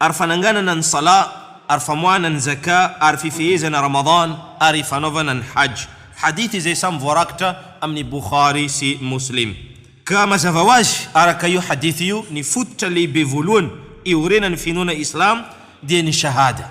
ary fananganana ny Salah, ary famoahana ny Zakah, ary fifehezana Ramadan, ary fanaovana ny Hajj. Hadith izay samy voarakitra amin'ny Bukhari sy Muslim. Ka mazava ho azy, araka io Hadith io, ny fototra lehibe voalohany iorenan'ny finoana Islam dia ny Shahada.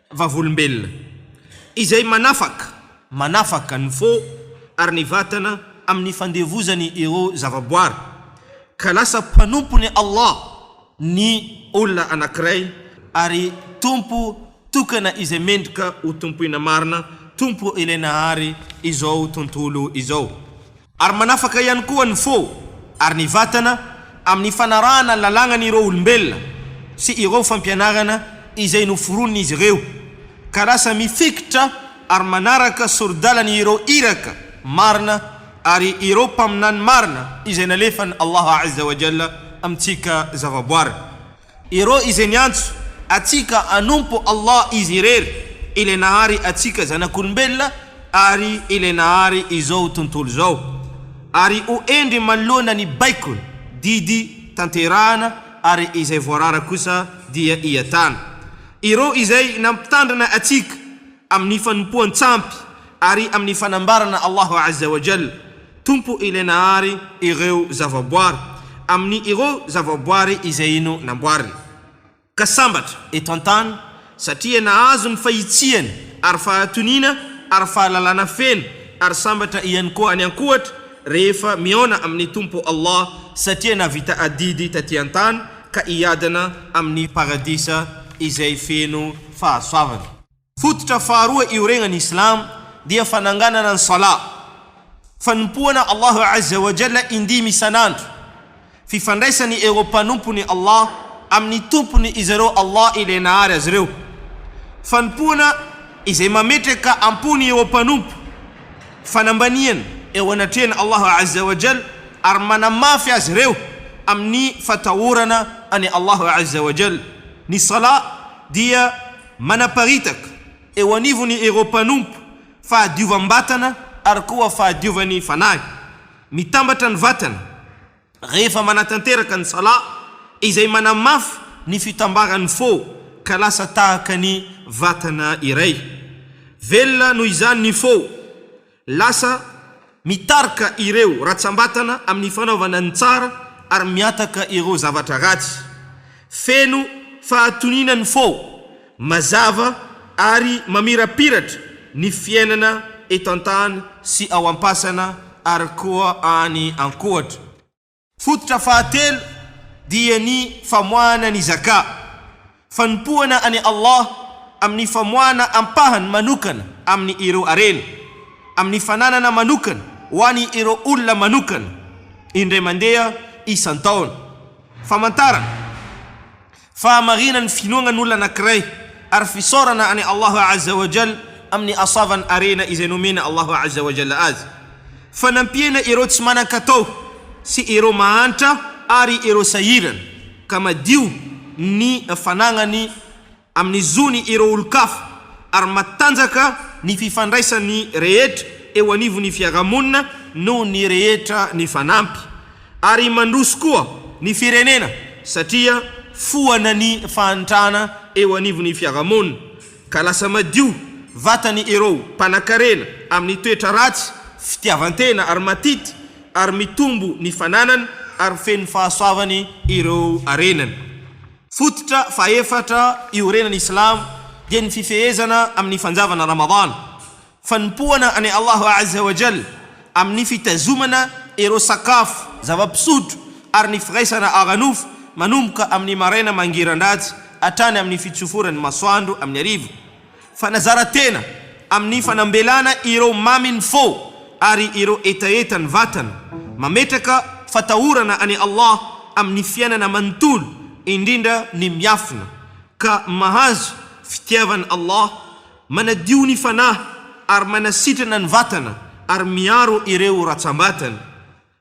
Vavolombelona, izay manafaka, manafaka ny fo ary ny vatana amin'ny fandevozany ireo zavaboary, ka lasa mpanompon'i Allah ny olona anankiray, ary Tompo tokana izay mendrika ho tompoina marina, Tompo ilay nahary izao tontolo izao. Ary manafaka ihany koa ny fo ary ny vatana amin'ny fanarahana ny lalàgnan'ireo olombelona sy ireo fampianarana izay noforonin'izy ireo, ka lasa mifikitra ary manaraka sori-dalany ireo Iraka marina ary ireo Mpaminany marina izay nalefan'i Allah Azza wa Jalla amintsika zavaboary. Ireo izay niantso antsika hanompo Allah Izy irery, Ilay nahary antsika zanak'olombelona ary Ilay nahary izao tontolo izao, ary ho hendry manoloana ny baikony, didy, tanterahana, ary izay voarara kosa dia hiatana. Ireo izay nampitandrina antsika amin'ny fanompoan-tsampy ary amin'ny fanambarana Allah Azza wa Jalla, Tompo ilay nahary ireo zavaboary, amin'ny ireo zavaboary izay ino namboariny. Ka sambatra, eto an-tany, satria nahazo ny fahitsihany ary fahatoniana ary fahalalana feno, ary sambatra ihany koa any an-kohatra rehefa mihaona amin'ny Tompo Allah satria nahavita adidy taty an-tany ka hiadana amin'ny Paradisa izay feno fahasoavana. Fototra faharoa ioregnan'ny Islamo dia fananganana ny Salat, fanompoana Allahu Azza wa Jalla indimy isan'andro, fifandraisany ireo mpanompon'i Allah amin'ny Tompony izareo Allah ilay nahary azy ireo, fanompoana izay mametraka am-pony ireo mpanompo, fanambaniana eo anatrehan'i Allahu Azza wa Jalla ary manamafy azy ireo amin'ny fatahorana an'i Allahu Azza wa Jalla. Ny Salat dia. Manaparitaka eo anivony ireo mpanompo fahadiovam-batana ary koa fahadiovan'ny fanahy. Mitambatra ny vatana rehefa manatanteraka ny Salah, izay manamafy ny fitambaran'ny fo ka lasa tahaka ny vatana iray. Velona noho izany ny fo. Lasa mitarika ireo ratsambatana amin'ny fanaovana ny tsara ary mihataka ireo zavatra ratsy. Feno fahatoniana ny fo, mazava ary mamirapiratra ny fiainana eto an-tany sy ao am-pasana ary koa any an-kohatra. Fototra fahatelo dia ny famoahana ny Zaka, fanompoana an'i Allah amin'ny famoahana ampahany manokana amin'ny ireo harena, amin'ny fananana manokana ho an'i ireo olona manokana, indray mandeha isan-taona. Famantarana. Fahamarina ny finoagnany olona anankiray ary fisaorana an'i Allah Azza wa Jalla amin'ny asavan'ny arena izay nomen' Allah Azza wa Jalla azy. Fanampiana ireo tsy manan-katao sy ireo mahantra ary ireo sahirana, ka madio ny fanagnany amin'ny zony ireo olon-kafa ary matanjaka ny fifandraisan'ny rehetra eo anivon'ny fiarahamonina noho ny rehetra nifanampy. ary mandroso koa ny firenena satria foana ny fahantrana eo anivon'ny fiarahamonina ka lasa madio vatany ireo mpanakarena amin'ny toetra ratsy, fitiavan-tena ary matity ary mitombo ny fananany ary feno fahasoavany ireo arenany. Fototra fahefatra iorenan'ny silamo dia ny fifehezana amin'ny fanjavana Ramadana Fanompoana an'i Allah Azza wa Jalla amin'ny fitazomana ireo sakafo, zava-pisotro ary ny firaisana ara-nofo manomboka amin'ny maraina mangiran-dratsy hatrany amin'ny fitsoforan'ny masoandro amin'ny hariva. Fanazaran-tena amin'ny fanambelana ireo mamin'ny fo ary ireo hetahetan'ny vatana. Mametraka fatahorana an'i Allah amin'ny fiainana manontolo, indrindra ny miafina, ka mahazo fitiavan'i Allah Manadio ny fanahy ary manasitrana ny vatana ary miaro ireo ratsam-batana.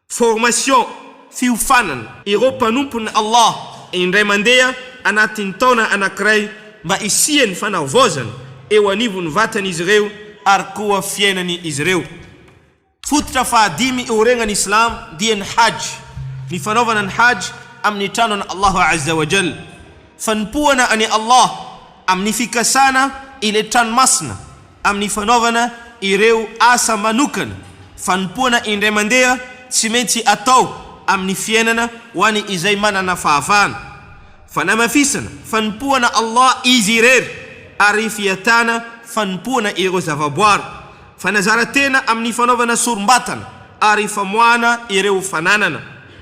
Formation, fiofanana. Ireo mpanompon'i Allah indray mandeha anatin'ny taona anankiray mba hisian'ny fanavaozana eo anivon'ny vatan'izy ireo ary koa fiainany izy ireo. Fototra fahadimy eo regnan' i Islam dia ny Hajj, ny fanaovana ny Hajj amin' ny Tranon' Allah Azza wa Jalla, fanompoana an' i Allah amin' ny fikasana ilay Trano Masina amin' ny fanaovana ireo asa manokana, fanompoana indray mandeha tsy maintsy atao amin' ny fiainana ho an' izay manana fahafahana, fanamafisana fanompoana Allah Izy irery ary fiatana fanompoana ireo zavaboary. Fanazaran-tena amin'ny fanaovana sorom-batana ary famoahana ireo fananana.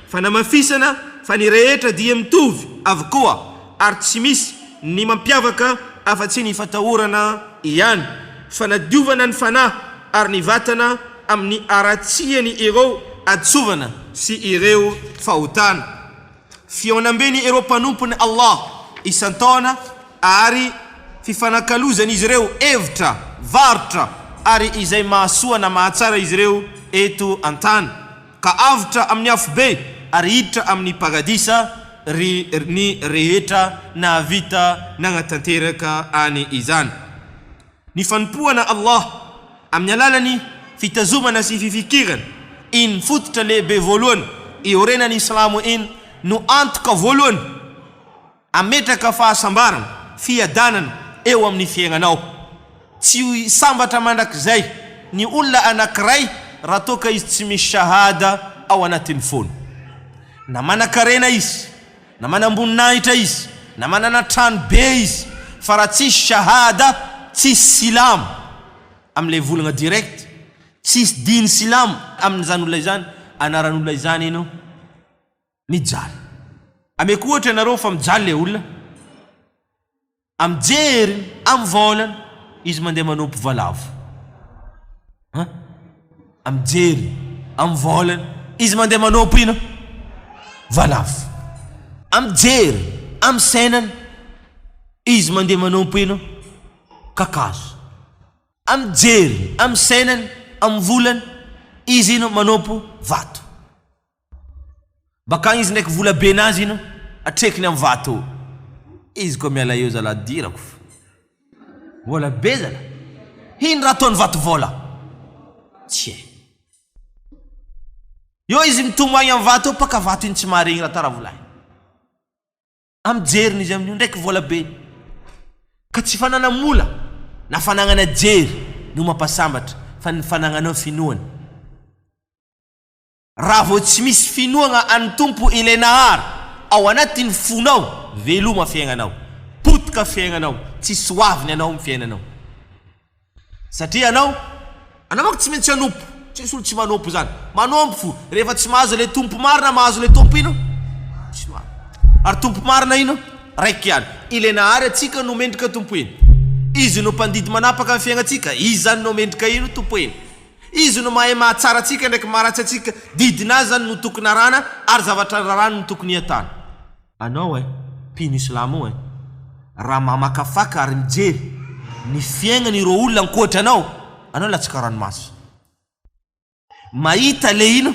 Fanamafisana fa ny rehetra dia mitovy avokoa ary tsy misy ny mampiavaka afa-tsy ny fatahorana ihany. Fanadiovana ny fanahy ary ny vatana amin'ny haratsiany ireo hadisoavana sy ireo fahotana. Fihaonambe ny ireo mpanompon'i Allah isan-taona ary fifanakalozan'izy ireo hevitra, varotra ary izay mahasoa na mahatsara izy ireo eto an-tany, ka avotra amin'ny afobe ary hiditra amin'ny Paradisa ry ny rehetra nahavita nanatanteraka any izany. Ny fanompoana Allah amin'ny alalan'ny fitazomana sy fifikirana iny fototra lehibe voalohany iorenan'ny Islamo iny no antoka voalohany ametraka fahasambarana, fiadanana, eo amin'ny fiaignanao. Tsy ho sambatra mandrakizay ny olona anankiray raha toa ka izy tsy misy Shahada ao anatin'ny fony. Na manankarena izy. Na manam-boninahitra izy, na manana trano be izy, fa raha tsisy shahada, tsisy silamo amin'ilay volagna direct, tsisy diny silamo amin'izany olona izany, anaran'olona izany eny ao, mijaly. Ameko ohatra ianareo fa mijaly ilay olona. Amin'ny jeriny, amin'ny volany, izy mandeha manopy valavo. An! Amin'ny jeriny, amin'ny volany, izy mandeha manopy inona? Valavo. Amin'ny jeriny, amin'ny sainany, izy mandeha manopy inona? Kakazo. Amin'ny jeriny, amin'ny sainany, amin'ny volany, izy inona? Manopy vato. Bakagny izy ndraiky vola be nazy ino atrekiny am vato izy koa miala eo zala adirako fa vola be zala hino raha ataony vato vola tsy hay eo izy mitomagny am vato eo paka vato iny tsy maharegny raha tara vola iny am jeriny izy amio ndraiky vola be ka tsy fanana mola na fananana jery no mampasambatra fa ny fanananao finoany. Raha vao tsy misy finoagna an'i Tompo ilay Nahary ao anatin'ny fonao, veloma fiaignanao, potika fiaignanao, tsy soaviny anao amin'ny fiainanao. Satria anao, anao manko tsy maintsy hanompo, tsy misy olo tsy manompo zany, manompo fo, rehefa tsy mahazo ilay Tompo marina, mahazo ilay Tompo ino? Tsy marina. Ary Tompo marina ino? Raiky ihany. Ilay Nahary antsika no mendrika Tompo ino? Izy no mpandidy manapaka ny fiaignatsika, Izy zany no mendrika ino? Tompo ino? Izy no mahay mahatsara antsika ndraiky maharatsy antsika, didin azy zany no tokony arahana ary zavatra rarany no tokony iatana. Anao eh, mpino islamo io eh, raha mamakafaka ary mijery ny fiaignany ireo olona ankoatry anao, anao latsaka ranomaso. Mahita le ino?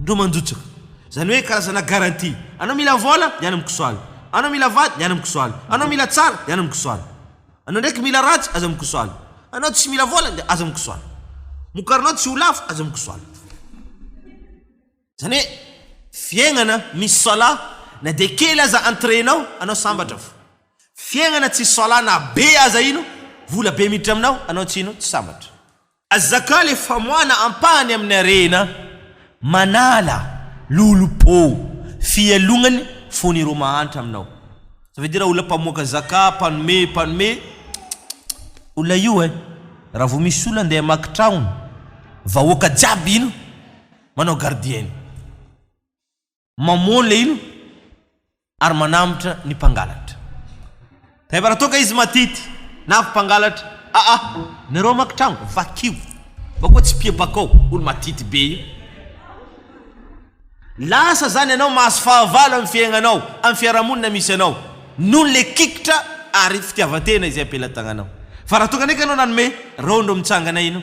Ndro manjotsaka. Zany hoe karazana garantie. Anao mila vola, ny any am kisoala. Anao mila vady, ny any am kisoala. Anao mila tsara, ny any am kisoala. Anao ndraiky mila ratsy, aza mikisoala. Anao tsy mila vola, dia aza mikisoala. Mokarinao tsy ho lafo, aza mikisoala. Zany hoe fiaignana misy soala, na dia kely aza entrée nao, anao sambatra fa. Fiaignana tsisy soala na be aza ino, vola be miditra aminao, anao tsy ino, tsy sambatra. Azakao le famoahana ampahany amin'ny harena manala lolompo fialognany fony ireo mahantra aminao ça veut dire olona mpamoaka zaka mpanome mpanome tchttchtt olona io eh raha vao misy olona ndeha hamaky tragno vahoaka jiaby ino manao gardienne. Mamoha ny lehilahy ary manambotra ny mpangalatra. Rehefa raha toa ka izy matity na avy mpangalatra, aa, nareo hamaky trano, vakio, mba koa tsy mpiebaka ao, olo matity be io. Lasa zany ianao mahazo fahavalo amin'ny fiaignanao, amin'ny fiarahamonina misy anao, noho ny le kikitra ary fitiavan-tena izay am-pelan-tagnanao. Fa raha toa ka ndraika anao nanome, reo ndro mitsangana ino?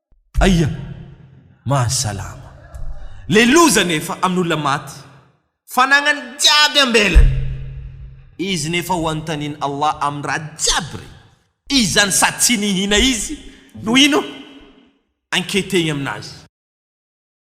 Aia! Mahasalama. Le loza nefa amin'olona maty, fanagnany jiaby ambelany. Izy nefa ho anontanian'i Allah amin'ny raha jiaby re. Izany sady tsy nihina izy no ino? Enquetez-ny aminazy.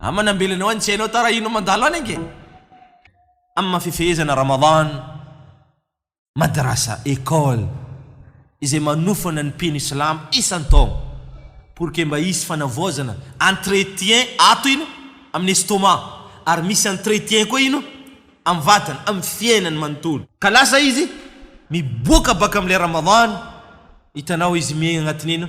Aman nambelanao any tsy hainao tarahina mandalo any ange. Am maha fifehezana Ramadan, Madrasa, École, izay manofana ny mpino Islam isan taogna pour que mba hisy fanavaozana, entretien, ato ino amin estomac ary misy entretien koa ino am vatana, am fiainany manontolo. Ka lasa izy miboaka baka am ilay Ramadan, hitanao izy miaigna agnatin ino?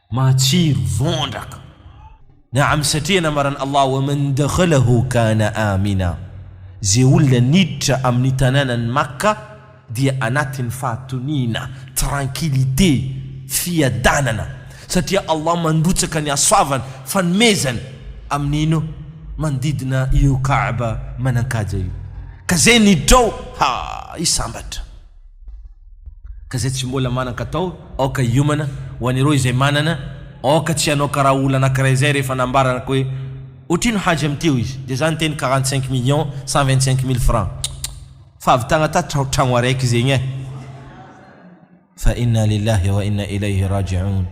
Matsiro vondraka. Naam satria namaran' Allah wa man dakhalahu kana amina, Ze olona niditra amin' ny tanànan' ny Makka dia anatin' ny fahatoniana, tranquillité, fiadanana, satria Allah mandrotsaka ny hasoavany, fanomezany, amin' ino? manodidina io Kaaba manan-kaja io. Ka ze niditra ao, ha! hisambatra. Ka izay tsy mbola manan-katao, aoka hiomana, ho an'ireo izay manana, aoka tsy hanao karaha olona anankiray izay rehefa nambaranako hoe, Ohatrino Haji amin'ity hoy izy, dia za niteny quarante cinq millions cent vingt cinq mille francs, fa avy tagna ta tra tragno araiky zegny eh! Fa inna lillahi wa inna ilayhi raji'oun!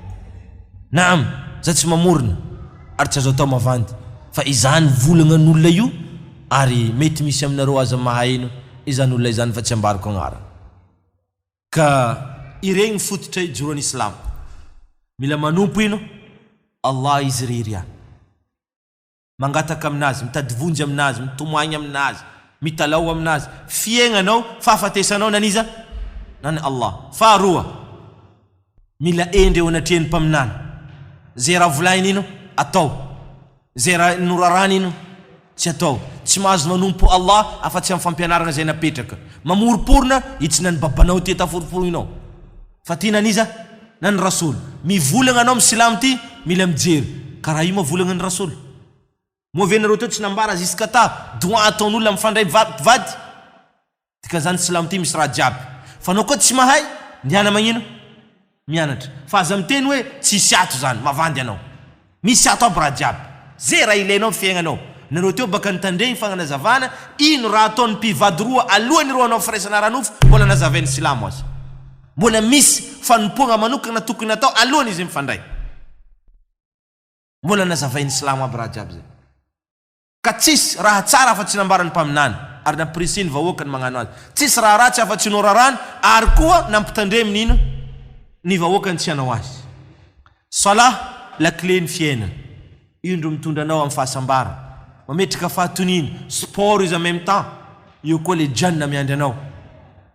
Naam! Za tsy mamorona ary tsy azo atao mavandy, fa izany volagnan'olona io ary mety misy aminareo aza mahaheno, izany olona izany fa tsy ambarako agnarany ka iregny fototra ijoroany islam mila manompo ino Allah izy irery ihany mangataka aminazy mitady vonjy aminazy mitomagny aminazy mitalaho aminazy fiaignanao fahafatesanao naniza nany Allah faharoa Mila hendry eo anatrehan'ny mpaminany. Izay raha volahiny iny atao. Izay raha norarany iny tsy atao. Tsy mahazo manompo Allah afa-tsy amin'ny fampianarana izay napetraka. Mamoroporona hitsina ny babanao ity taforofony nao. Fa ty nan'iza? Na ny Rasoul. Mivolagna anao amin'ny silamo ty mila mijery. Ka raha io moa volagna ny Rasoul. Moa ve nareo teo tsy nambara ziskata doa ataon'olona mifandray vady? Dika zany silamo ty misy raha jiaby fa nao koa tsy mahay ndehana magnino mianatra fa aza miteny hoe tsisy ato zany mavandy anao misy ato aby raha jiaby ze raha ilainao am fiaignanao nareo teo baka nitandregny fagnanazavana ino raha ataony mpivady roa aloany ireo anao firaisana ara nofo mbola nazavainy silamo aza mbola misy fanompoagna manokagna tokony atao aloany izy mifandray mbola nazavainy silamo aby raha jiaby zay. Ka tsisy raha tsara afa-tsy nambaran'ny mpaminany, ary nampirisihin'ny vahoaka ny magnano azy. Tsisy raha ratsy afa-tsy norarany, ary koa nampitandreminy hino ny vahoaka ny tsy hanao azy. Salah, lakilen'ny fiainana. Io ndro mitondra anao amin'ny fahasambarana, mametraka fahatoniana, sport izy en même temps, eo koa le Jannah miandry anao.